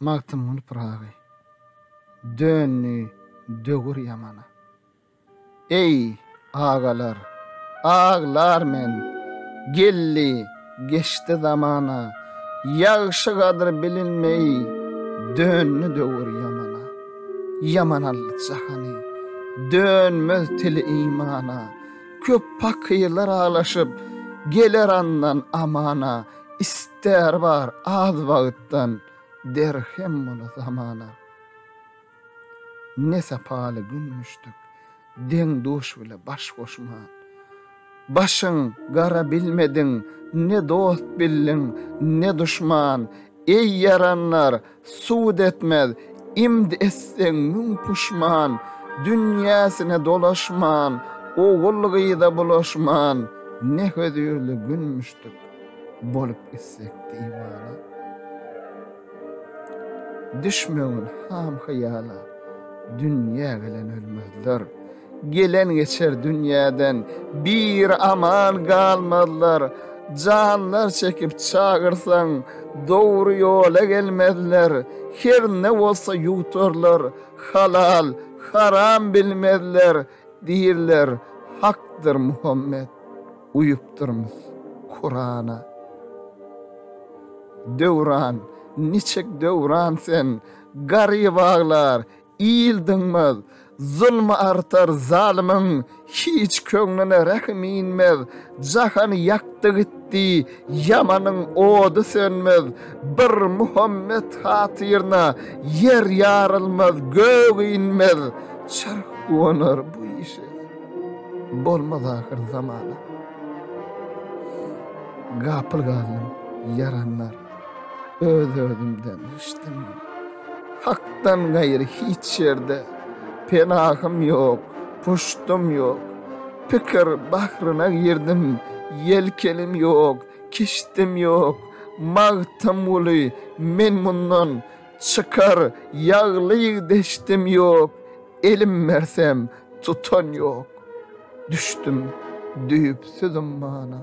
Magtymguly Pyragy döndi döwür ýamana. Eý, agalar, aglar men, geldi, geçdi zamana, Ýagşy gadyr bilinmeý, döndi döwür ýamana. Ýaman aldy jahany, dönmez tili imana, Köp pakyrlar aglaşyp, geler andan amana. Ister bar az wagtdan derhem bola zamana. Ne sapaly gün müşdük, deň-duş bile baş goşman. Başyň gara bilmediň, ne dost bildiň, ne duşman. Eý ýaranlar, Sud etmez, imd etseň müň puşman, Dünýäsine dolaşman, ogul-gyza bulaşman, Ne hözirli gün müşdük, bolup gitsek diwana. Düşmegin ham-hyýala, dünýä gelen ölmezler. Gelen geçer dünýäden bir aman galmazlar, Janlar çekip çagyrsaň, dogry ýola gelmezler, Herne bolsa ýuwtarlar, halal, haram bilmezler, Diýirler, Hakdyr Muhammet, uýupdyrmyz Kurana. Döwran, niçik Döwran sen, garyp aglar, Il dynmaz, zulmy artar zalymyň, Hiç köňlüne rähim inmez. Jahany ýakdy gitdi ýamanyň ody sönmez, Bir Muhammet hatyryna ýer ýarylmaz, Gök inmez, çarh guwanar bu işe, Bolmaz ahyr zamana gapyl galdym ýaranlar. Öz-özümden içdim. Hakdan gaýry hiç ýerde penahym ýok, puştum ýok. Pikir bahryna girdim, ýelkenim ýok, kiştim ýok. Magtymguly, men mundan çykar ýagly deşdim ýok, elim bersem tutan ýok. Düşdüm düýpsüz ummana.